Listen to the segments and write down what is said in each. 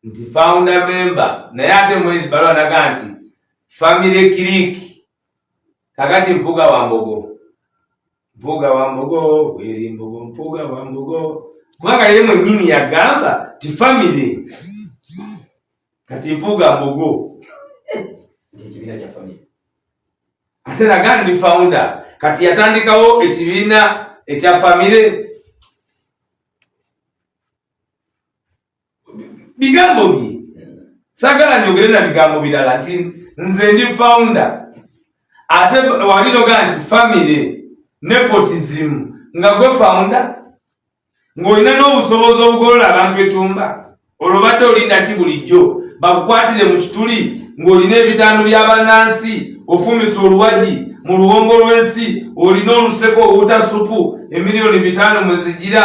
nti founder member naye ate mwezi balo anaga nti family click kakati mpuga wa mbogo mpuga wa mbogo weri mbogo mpuga wa mbogo kubanga yeye mwenyini yagamba ti family kati mpuga mbogo ekibiina kya family ate naga ndi founder kati yatandikawo ekibiina ekya family bigambo bye sagala njogere na bigambo birala nti nze ndi founder ate wali noga nti family nepotism nga gwe founder ng'olina n'obusobozi obugolola abantu etumba olwo badde olindaki bulijjo bakukwatire mu kituli ng'olina ebitandu by'abannansi ofumisa oluwagi mu luwongo lw'ensi olina oluseko owuta supu emiliyoni bitaano mwe zigira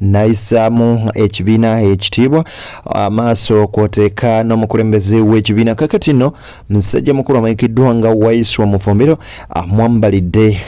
nayisaamu ekibiina ekitiibwa amaaso kwoteeka n'omukulembeze w'ekibiina kakati no musajja mukulu amanyikiddwa nga waiswa mufumbiro amwambalidde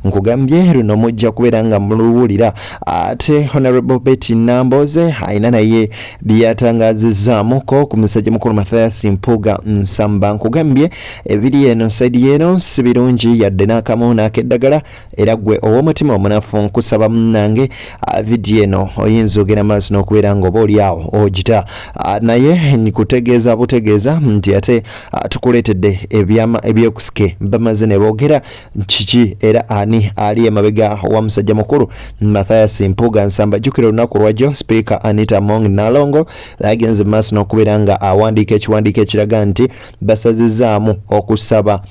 nkugambye luno mujja kubeera nga muluwulira ate honorable betty namboze alina naye byeyatangazizaamuko ku musajja mukulu mathias mpuga nsamba nkugambye ebiri eno saidi yeeno si birungi yadde n'akamu n'akeddagala era gwe ow'omutima omunafu nkusaba munange ah, vidiyo eno oyinza ogenda maaso n'okubeera nga oba olyawo ogita ah, naye nkutegeeza butegeeza nti ate ah, tukuleetedde ebyama ebyekusike bamaze ne boogera kiki era ani ali emabega wa musajja mukulu mathias mpuga nsamba jjukira olunaku lwajjo sipiika anita mong nalongo agenze mu maaso n'okubeera nga awandiika ekiwandiiko ekiraga nti basazizaamu okusaba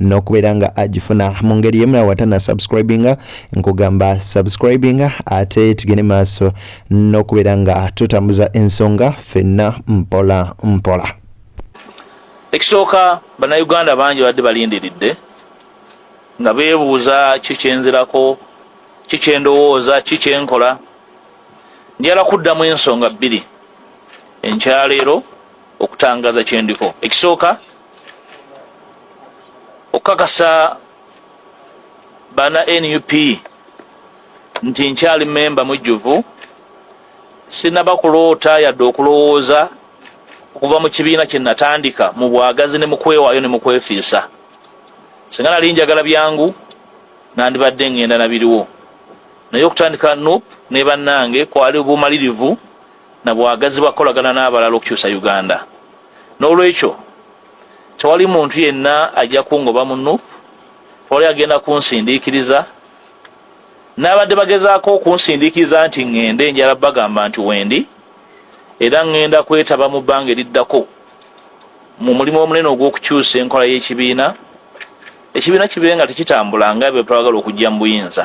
n'okubeera nga agifuna mu ngeri yemu nawe watana subscribinga nkugamba subscribinga ate tugende maaso n'okubeera nga tutambuza ensonga fenna mpola mpola ekisooka bannayuganda bangi badde balindiridde nga beebuuza kikyenzirako kikyendowooza kikyenkola njala kuddamu ensonga bbiri enkyaleero okutangaza kyendiko ekisooka okukakasa bana nup nti nkyali memba mujjuvu sinaba kuloota yadde okulowooza okuva mu kibiina kye natandika mu bwagazi ne mukwewayo ne mukwefiisa singa nali njagala byangu nandibadde ngenda nabiriwo naye okutandika nup ne bannange kwali bumalirivu na bwagazi bwakukolagana n'abalala okukyusa uganda n'olwekyo tewali muntu yenna ajja kungoba mu nup tewali agenda kunsindiikiriza n'abadde bagezaako okunsindiikiriza nti ŋŋende njala bagamba nti wendi era ŋŋenda kwetaba mu bbanga eriddako mu mulimu omunene ogw'okukyusa enkola y'ekibiina ekibiina kibe nga tekitambula nga ebyo twagala okujja mu buyinza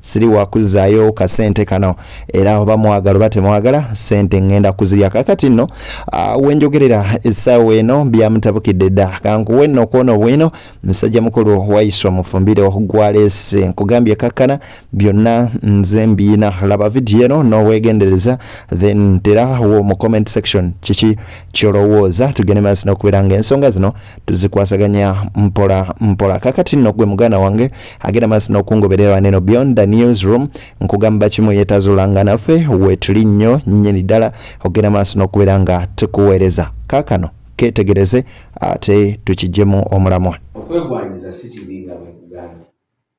siri wakuzzaayo kasente kano era oba mwagala oba temwagala sente ngenda kuzirya kakati nno ah, wenjogerera essaawa eno byamutabukidde dda kankuwe nno kwona obwino musajja mukulu waiswa mufumbire gwaleese nkugambye kakkana byonna nze mbiina laba vidiyo eno n'obwegendereza then terawo mu comment section kiki kyolowooza tugende maaso nokubeera nga ensonga zino tuzikwasaganya mpola mpola kakati nno gwe muganda wange agenda maaso n'okungoberera neno beyond the newsroom nkugamba kimu yetazulanga naffe wetuli nnyo nnyini ddala ogenda maaso n'okubeera nga tukuweereza kaakano ketegereze ate tukijjemu omulamwa okwegwanyiza si kibi nga bwekugambye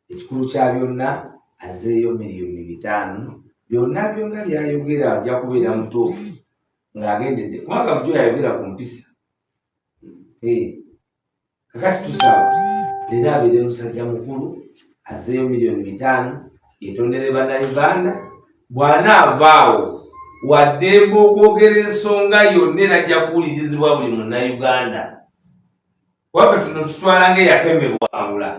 ekikulu kya byonna azeeyo miliyoni bitaano byonna byonna byayogera ajja kubeera mutuufu ng'agendedde kubanga bujo yayogera ku mpisa eh, kakati tusaba leero abeere musajja mukulu azeeyo miliyoni bitaano etondere bana uganda bw'anaavaawo waddembe okwogera ensonga yonna era ajja kuwulirizibwa buli munnauganda waffe tuno tutwala nga eyakemebwawula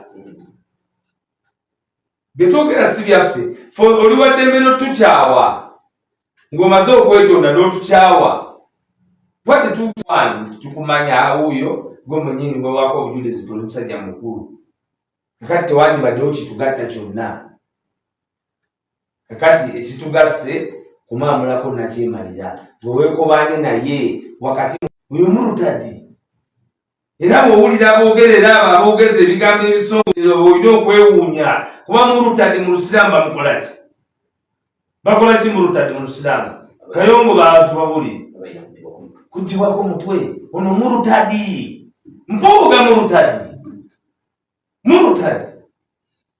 byetwogera si byaffe fe oli waddembe notukyawa ng'omaze okwetonda n'otukyawa kuba tetukwani nti tukumanya awuuyo gwe munyini wewako obujulizi tuli musajja mukulu kakati tewandibaddewo kitugatta kyonna kakati ekitugasse kumaamulako nakyemalira bwe weekobaanye naye wakati uyo murutadi era bw'owulira aboogera era abo aboogeza ebigambo ebisongoere oba olina okwewuunya kuba murutadi mu lusiraamu bamukola ki bakola ki murutadi mu lusiraamu kayongo bantu babuli kugibwako mutwe ono murutadi mpuuga murutadi murutadi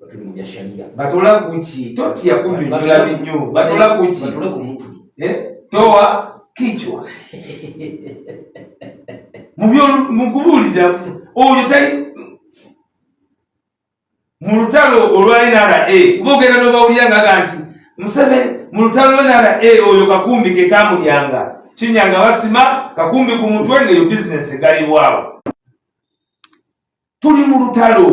batuli mu bya sharia batula kuki totya kunyonyola binyo batula kuki batule ku mutwe eh toa kichwa mu byo mu kubuulira oyo tali mu lutalo olwa nra kuba ogenda n'obawulira ngaga nti museveni mu lutalo lwa nra oyo kakumbi ke kamulyanga kinyanga basima kakumbi ku mutwe ngaeyo bizinesi egalibwawo tuli mu lutalo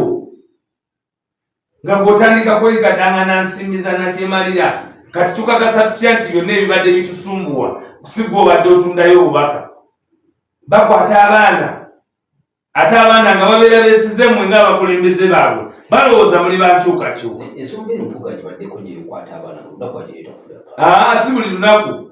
nga bw'otandika kwegadangana nsimbi za nakyemalira kati tukakasa tutya nti byonna ebibadde bitusumbuwa kusigwa obadde otundayo obubaka bakwata abaana ate abaana nga babeera besize mwe nga abakulembeze baabwe balowooza muli bankyukakyuka si buli lunaku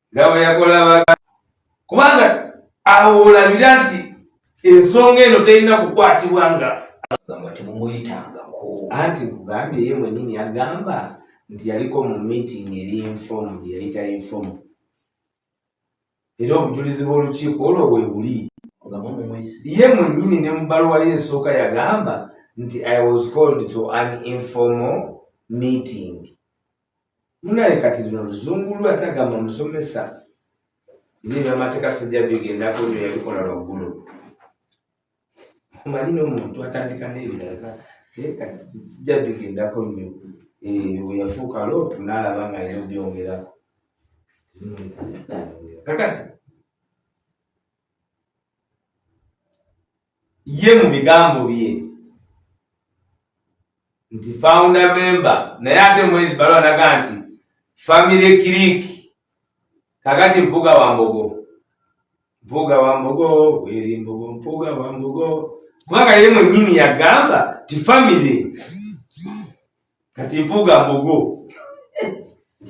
nga bwe yakola baga kubanga awo olabira nti ensonga eno terina kukwatibwa nga agamba temumuyitangako anti nkugambye ye mwenyini agamba nti yaliko mu meeting eri informu gye yayita informu era obujulizi bw'olukiiko olwo bwe buli ye mwenyini ne mu baluwa ye esooka yagamba nti i was called to an informal meeting munaye kati lino luzungu lwe ate agamba musomesa naye byamateeka sijja bigendako nyo yabikola lwaggulu omanyi nomuntu atandika nebirala naye kati sijja bigendako nyo eh, weyafuuka lootu nalaba nga yina obyongerako kakati ye mu bigambo bye nti founder member naye ate mu ebbaluwa naga nti family click kakati mpuga wa mbogo mpuga wa mbogo weri mbogo mpuga wa mbogo kubanga ye mwenyini yagamba ti family kati mpuga mbogo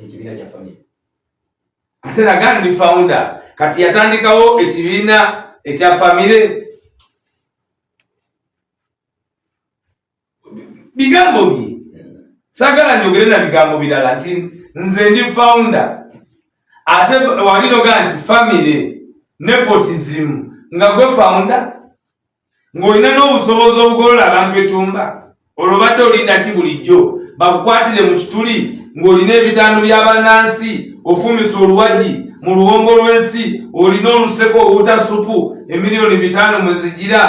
ekibiina kya family ate naga ndi founder kati yatandikawo ekibiina ekya famire bigambo bye sagala njogere na bigambo birala nti nze ndi founder ate walinoga nti famire nepotism nga gwe founder ng'olina n'obusobozi obugolola abantu etumba olwo badde olinda ki bulijjo bakukwatire mu kituli ng'olina ebitandu bya bannansi ofumise oluwagi mu luwongo lw'ensi olina oluseko owuta supu emiliyoni bitaano mwe zigira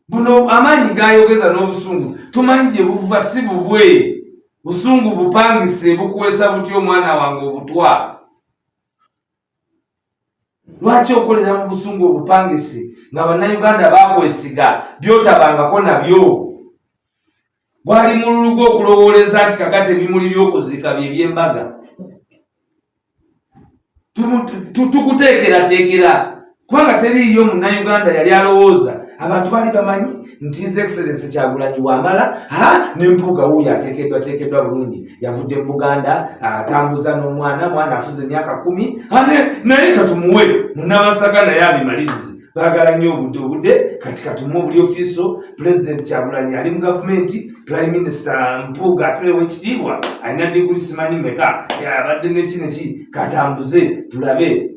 buno amaanyi gayogeza n'obusungu tumanyi gye buva si bubwe busungu bupangise bukwesa butya omwana wange obutwa lwaki okolera mu busungu obupangisi nga bannayuganda bakwesiga byotabangako nabyo gwali mululu gwo okulowooleza nti kakati ebimuli by'okuzika bye byembaga tukuteekerateekera kubanga teriiyo munnayuganda yali alowooza abantu bali bamanyi nti his excellence kyagulanyi bwamala ha nempuuga wuuyo ateekeddwa teekeddwa bulungi yavudde mu buganda atambuza n'omwana mwana afuze emyaka kumi ane naye katumuwe munabasaga naye abimalirizi bagala nnyo obudde obudde kati katumu obuli ofiiso pulezidenti kyagulanyi ali mu gavumenti prime minister mpuuga atelewo ekitiibwa alina diguli simanyi meka abadde neki neki katambuze tulabe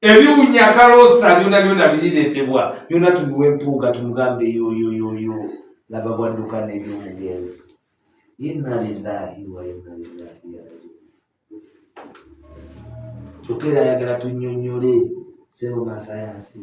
ebiwunya kaloosa byona byona biriretebwa byona tubiwa empuuga tumugambe yoyoyoyo laba bwadduka nebyomugenzi inna lillahi wa inna lillahi kyokka era ayagala tunyonyole sebo masayansi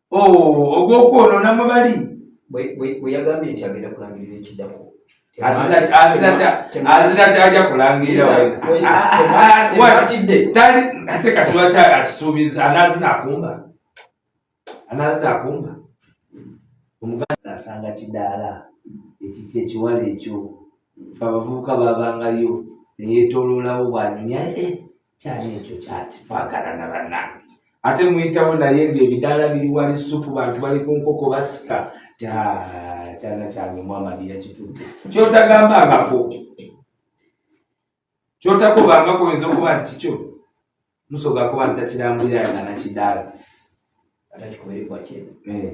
oh, ogwokwonoona mwe bali bwe yagambye nti agenda kulangirira ekiddako azira kyagya kulangirira weatidde tali ate katiwakya akisuubiza anazina akumba anazina akumba omuganda asanga kidaala ekiki ekiwala ekyo abavubuka babangayo neyetololawo bwanyumya eh, kyali ekyo kyaki twagala na banange ate muyitawo naye nga ebidaala biri wali supu bantu bali ku nkoko basika kyana kyange mwamadi yakitudde kyotagamba ngako kyotakuba ngako oyinza okuba nti kikyo musoga kuba ntakirambulira nga nakidaala atakikuberekwa kyena eh.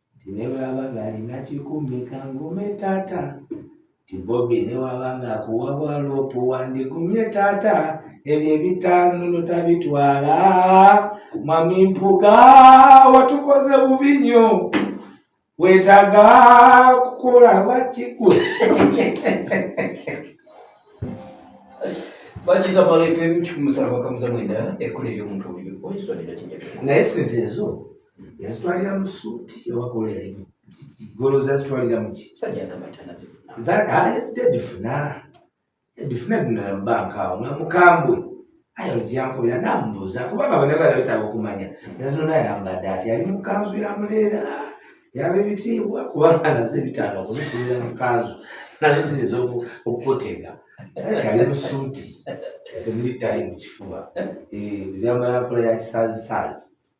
nti ne bwaba ng'alina kikumi kangume taata nti bobi ne waba ng'akuwa bwaloopu wandigumye taata ebyo ebitaano notabitwala mami mpuga watukoze bubi nnyo wetaga kukola bakikwe bagita balefe mukikumusala bakamuza mwenda ekkola ery'omuntu oyo oyisonera kinjaa naye sente ezo yazitwalira mu suuti ewakola erimu golo zazitwalira muki yazidedifuna edifuna dinala mu banka awo nga mukambwe ayo lukyankubira namubuuza kuba nga bana bala betaaga okumanya yazino nayambadde ati yali mu kanzu ya muleera yaba ebitiibwa kubanga nazo ebitaano okuzifunira mu kanzu nazo ziyinza okukutega ali mu suuti temuli tayi mu kifuba eh, ebyambala nkola ya kisazisaazi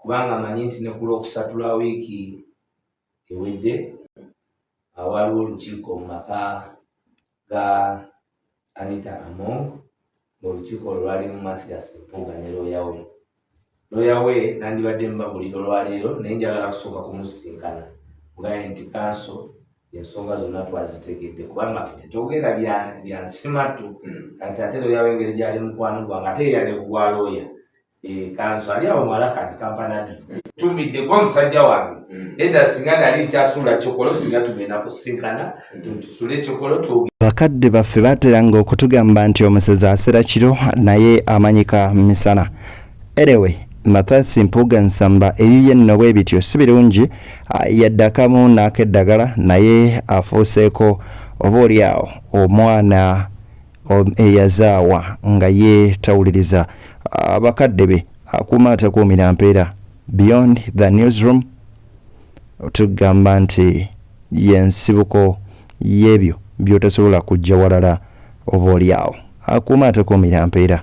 kubanga amanyi nti ne ku lw'okusatu lwa wiiki ewedde awaaliwo olukiiko mu maka ga Anita Among ng'olukiiko olwo lwalimu Mathias Mpuuga ne looya we looya we nandibadde mubabulira olwaleero naye njagala kusooka kumusisinkana mugaye nti kanso ensonga zonna twazitegedde kubanga fe tetwogera byansimatu kati ate looya we engeri gyali mukwano gwange ate yeyade kugwa looya Eh, kanso ali awo mwalakani kampanadi tumidde kuba musajja wange mm. eda singa nali nkyasuula kyokolo singa tugenda kusinkana mm. tusule kyokolo tu bakadde baffe bateranga okutugamba nti omusezi asera kiro naye amanyika misana erewe mathasi mpuga nsamba eyiye nno bwe bityo si birungi ah, yaddakamu n'akeddagala naye afuuseeko oba oli awo omwana eyazaawa nga yeetawuliriza ah, bakadde be akuuma atakuumira mpeera beyond the newsroom tugamba nti yensibuko y'ebyo by'otasobola kujja walala oba olyawo akuuma atakuumira mpeera